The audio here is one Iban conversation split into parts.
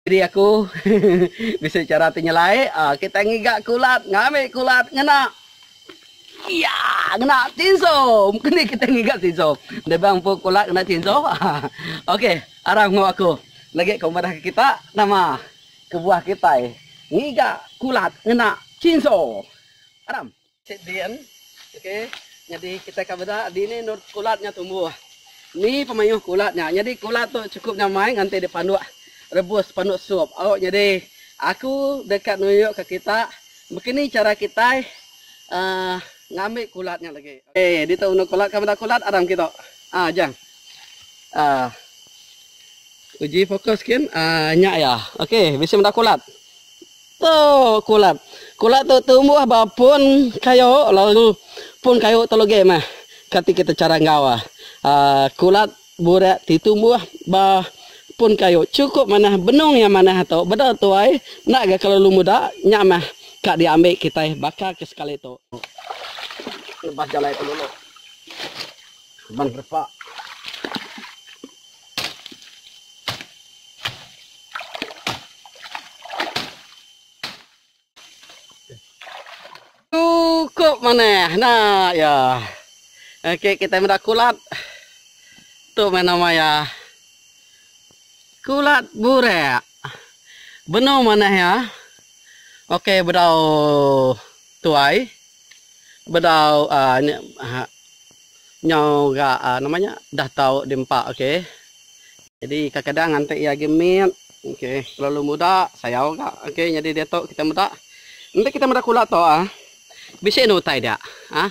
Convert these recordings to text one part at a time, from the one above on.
Diri aku bisi chara ti nyelai kitai ngiga kulat ngambi kulat ngena iya ngena chinso mungkin nih kitai ngiga chinso enda bang empu kulat ngena chinso ok aram enggau aku lagi ko madah kita nama kebuah kitai ngiga kulat ngena chinso aram. Cik Dian, ok nyadi kitai ka beda dini endur kulat nya tumbuh. Ni pemayuh kulat nya. Nyadi kulat tu chukup nya amai nganti dipanduk rebus panduk sup. Au nyadi aku deka nunjuk ke kita bekeni chara kitai uhh ngambi kulat nya lagi. Okey ditu endur kulat ka beda kulat aram kitu. Uhh jang. Uhh. Uji fokus kin uhh nya iya. Okey bisi meda kulat. Tu kulak. Kulak tu tumbuh ba pun kayu lalu pun kayu tu legi meh kati kita chara enggau iya. Kulak burak ti tumbuh ba pun kayu chukup manah benung iya manah tu beda tuai enda ga kelalu muda nya meh ka diambi kitai baka ke sekali tu. Lepas jalai penulu. Keban repa. Cukup manah nah ya. Okey kita meda kulat. Tu meh nama ya. Kulat burak. Benung manah ya. Okey bedau tuai. Bedau uh, Nyau ga nama nya dah tau di empa ok jadi kadang-kadang nganti iya agi mit ok kelalu muda sayau ga ok nyadi diatu kita meda enti kita meda kula tu ah bisi enda utai dia ah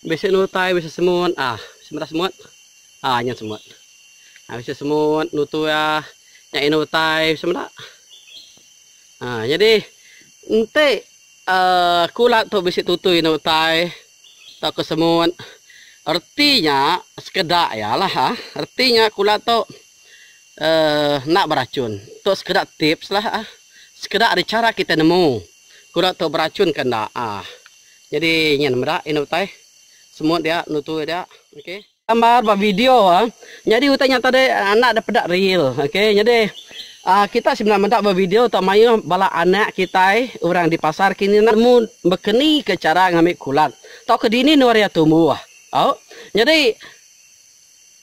bisi enda utai bisi semut ah bisi meda semut ah nyun semut ah bisi semut nutu iya nya enda utai bisi meda ah jadi enti uhh kula tu bisi tutui enda utai. Tauka semut. Reti nya sekeda iya lah. Reti nya kula tu uhh enda berachun. Tu sekeda tips lah uhh. Sekeda ari chara kitai nemu kura tu berachun ke enda uhh. Nyadi nyin meda indu utai semut dia nutu dia. Okey. Gambar ba video Nyadi utai nyata deh anak deh peda real ok nyadi kita semina meda ba video tau maioh bala anak kitai urang di pasar kini nemu bekeni ka chara ngambi kulat tau ka dini nuan ria tumbuh au nyadi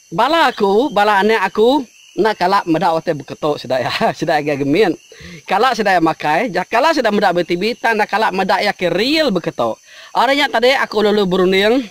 bala aku bala anak aku enda kala meda utai beketo sida iya sida iya ga gemit kala sida iya makai ja kala sida meda ba tv tang enda kala meda iya ke real beketo ari nya tadi aku lalu berunding.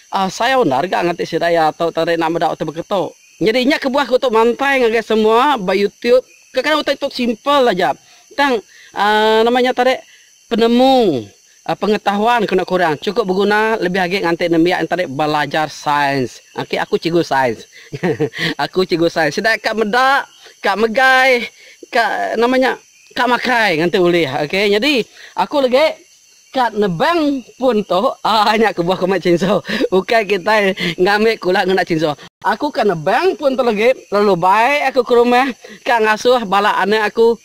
Asai undar ga ngati sidaya tu tang rina meda utai beketu. Nyadi nya kebuah ku tu mantai ngagai semua ba youtube. Kadang-kadang utai tu simple aja tang uhh nama nya tadi penemu pengetahuan kena kurang chukup beguna lebih agi nganti nembiak nya tadi belajar sains. Ok aku cikgu sains hehe aku cikgu sains sida ka meda ka megai ka nama nya ka makai nganti ulih. Ok nyadi aku legi. Kad nebang pun tu aa nya kebuah ku meh chinso ukai kitai ngambi kula ngena chinso. Aku ka nebang pun tu legi lalu bai aku ke rumah ka ngasuh bala anak aku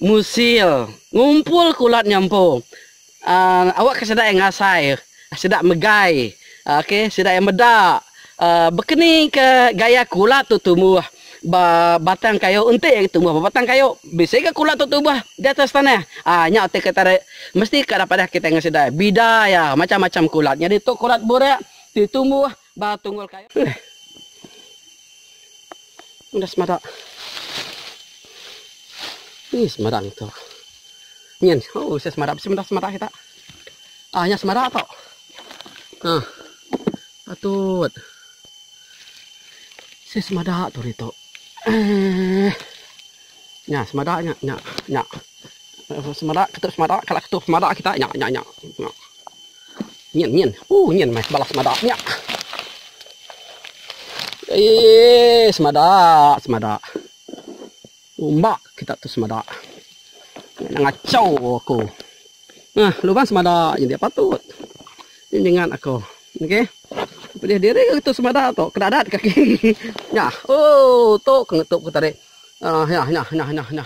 musil ngumpul kulat nyampu aa awak ke sida ngasai sida megai. Ok sida iya meda bekeni ke gaya kulat tu tumbuh ba batang kayu enti agi tumbuh ba batang kayu bisi ga kulat tu tumbuh di atas tanah aa nya ti ke tadi mesti ka padah kitai ngan sida bida iya macam-macam kulat nyadi tu kulat burak ti tumbuh ba tunggul kayu ulih enda semada ih semada ngitu nyin ooh semada bisi meda semada kita aa nya semada tu. Nah. Patut. Si semada tu hari tu. Eh. Nya semada nya nya nya. Semada ketuk semada kala ketuk semada kita nya nya nya. nya. Nyin nyin. Uh nyin mai balas semada nya. Eh semada semada. Umba kita tu semada. Nya ngachau aku. Nah, lubang semada nya dia patut. Nya nyengat aku. Okey. Pedih diri ke tu semada tu. Kedadat kaki. Nya. Oh, tu ke ngetup aku tadi. Ah, uh, nya, nya, nya, nya, nya.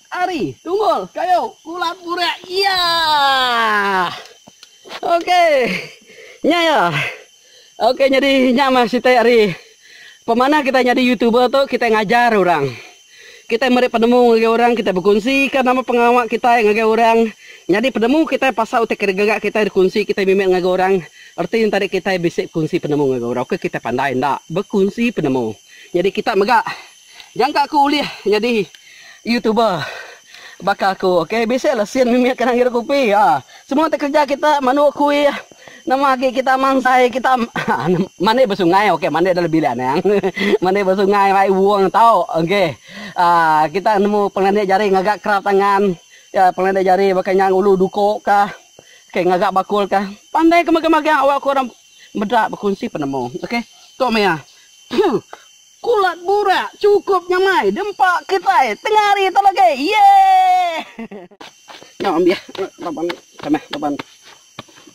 Ari, tunggul, kayu, kula purak iya. Ok. Nya iya. Ok nyadi nya mah siti ari pemanah kitai nyadi youtuber tu kitai ngajar orang. Kitai meri penemu ngagai orang kitai bekunsika nama pengawa kitai ngagai orang. Nyadi penemu kitai pasal utai gaga kitai dikunsi kitai mimit ngagai orang reti nya tadi kitai bisi kunsi penemu ngagai orang. Oka kitai pandai enda bekunsi penemu. Nyadi kita mega. Nyangka aku ulih nyadi youtuber baka aku ok bisi la sin mimit kena ngirup kopi ha semua ti kerja kita mandu kuih nama agi kita mansai kita mandi ba sungai ok mandi dalam bilik anang mandi ba sungai mai wong tau ok a kita nemu pengelandik jari ngaga kerap tangan ya pengelandik jari baka nya ngulu duko ka ok ngaga bakul ka pandai ke magang magang awak ku orang meda bekunsi penemu ok tu maya. Kulat burak cukup nyamai dempa kitai tengah hari tu lagi. Yeay. Nya ambih laban ni kamih laban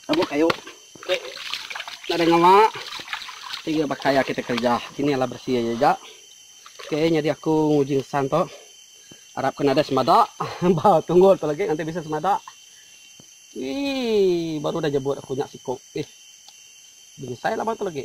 abu kayu tu nadai ngawa tiga baka ya kitai kerja kini alah beresi aja ja. Ok nyadi aku nguji ngesan tu arap ke nadai semada ba tunggul tu lagi nganti bisi semada. Wee baru dah nyebut aku nya siku. Ih. Benyesai laban tu lagi.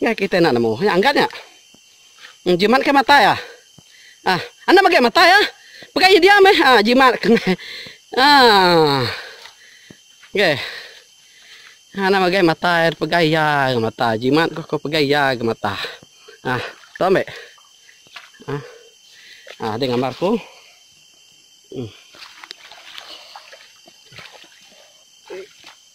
Nya kitai enda nemu. Nya angkat nya. Em jimat ke matai ah. Ah, anda magai matai ah. Pegai iya diam eh. Ah, jimat ke meh. Ah. Ge. Anda magai matai pegai iya ke mata. Jimat ko ko pegai iya ke mata. Ah, tu ambe. Ah. Ah, ada gambar ko. Hmm.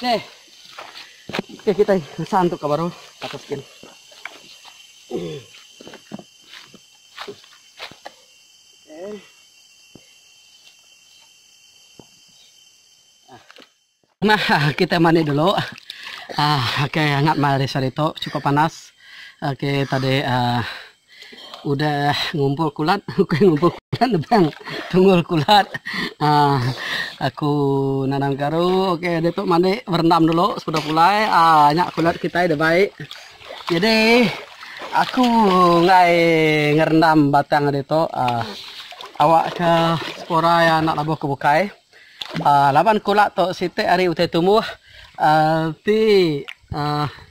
Okey. Okey kitai ngesan tu ka baru atas skin. Nah, kita mandi dulu. Ah, okey, angat mal di sari tu. Cukup panas. Okey, tadi ah uh, Udah ngumpul kulat ukai ngumpul kulat nebang tungul kulat aaa aku nanam garu ok ditu mandi berendam dulu sepeda pulai aaa nya kulat kitai da baik jadi aku enggai ngerendam batang ditu aaa awak ke sepura iya enda labuh ke bukai aaa laban kulat tu siti hari utai tumbuh aaa ti aaa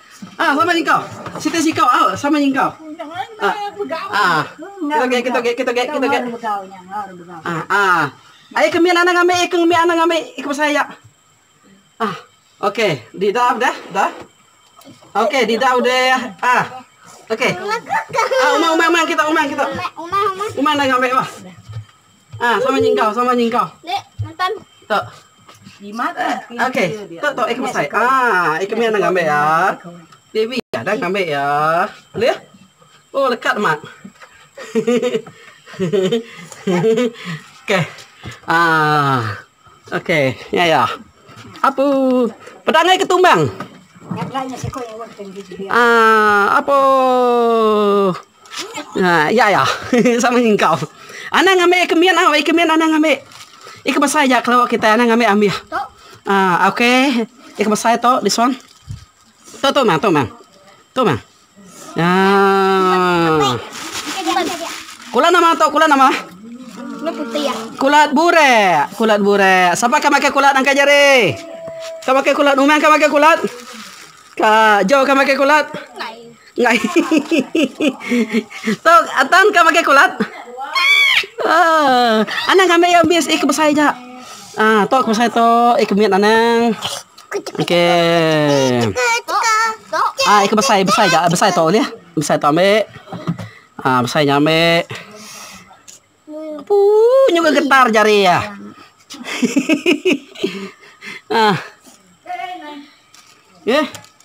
Ah sama nyengkau. Siti sikau au sama nyengkau. Ah. Kitoge kitoge kitoge kitoge. Ah ah. Ai ke mit anang ambi ke mit anang ambi ke pasal iya. Ah. Okey, di dah dah dah. Okey, di dah udah ah. Okey. Ah umang umang umang kita umang kita. Umang umang. Umang dah ngambi bah. Ah sama nyingkau sama nyingkau. Nek mentan. Tok. Jimat eh. Okey. Tok tok ikut besai. Ah ikut meh nang ambil ya. Devi ya dah ambil ya. Leh. Oh lekat mak. Okey. Ah. Ok nya ya. Apu peda angai ke tumbang. Ah apu ah ya ya sama ngi engkau. Anang ambi ke mian au ikemin anang ambi. Ika besai ja kelo kitai anang ambi ambih. Ah ok ika besai to this one. Tu tu mah tu mah. Tu mah. Ah. Kulat nama tu? Kulat nama? Kulat putih ya. Kulat burek. Kulat burek. Siapa ke makan kulat angkat jari? Ke makan kulat? Umang ke makan kulat? Ka Jo ke makan kulat? Ngai. Tok Atan ke makan kulat? Ah. Anang ambil ya bis ik besai ja. Ah, tok besai tok ik mit anang. Okey. Ah, ikut besai, besai ja, besai tu ulih. Besai tu ambil. Ah, besai nya ambil. Puu, nyu ke getar jari iya. ah. Eh.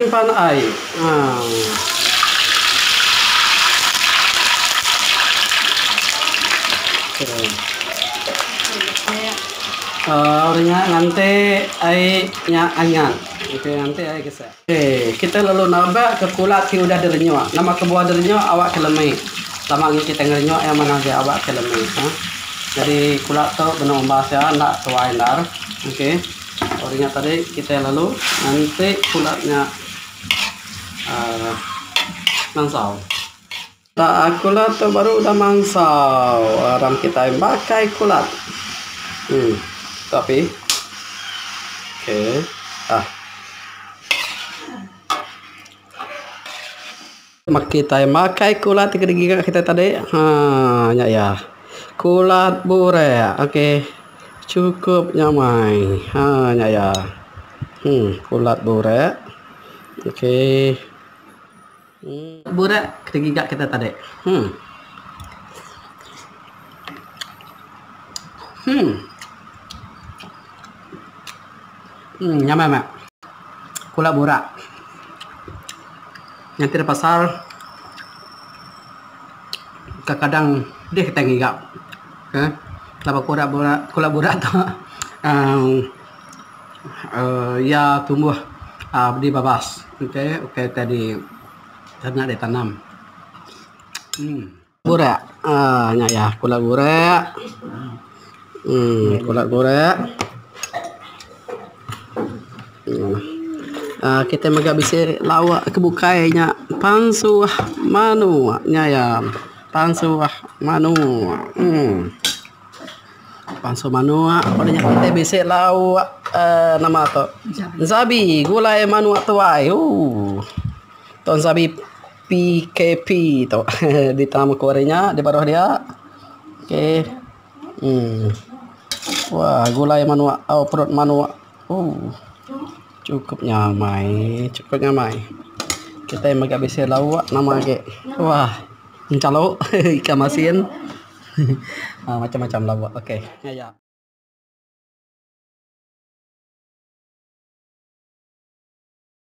Simpan ai. Orang nya nganti ai nya anyak. Okey nganti ai kesek. Okey kita lalu nabak ke kulat ti udah direnyuk. Nama ke buah direnyuk awak ke lemi. Sama ngi kita ngerenyuk iya manah aja awak ke lemi. Jadi kulat tu benung umbas iya enda tuai endar. Okey. Ari nya tadi kitai lalu nganti pulat nya aaa mansau. Aaa kulat tu baru udah mansau aram kitai bakai kulat. Emm tu api. Okey. Aaa. Maka kitai makai kulat ti kedigi ngagai kitai tadi. Ha nya iya. Kulat burak. Okey. Chukup nya amai. Ha nya iya. Uhh kulat burak. Okey. Uhh. Burak kedigi ga kitai tadi. Uhh. Uhh. Uhh nyamai meh. Kulat burak. Nganti da pasar, kadang-kadang deh kitai ngiga ke laban kura bura kura bura tu uhh iya tumbuh uhh di babas. Ukai ukai tadi tana ditanam. Uhh. Gurak. Ah nya iya kula gurak. Um kula gurak. Um ah kitai mega bisi lawa ke bukai nya pansuh manuk nya iya pansuh manuk. Um pansuh manuk pun nya kitai bisi lawa um nama tu ensabi gulai manuk tuai ooh. Tu ensabi. PKP tu dita meku ari nya di baruh dia okay uhh wah gulai manua au perut manua uhh chukup nya amai chukup nya amai kitai mega bisi lauk nama agi wah enchalu ikan masin uhh macam macam lauk okay nya ya.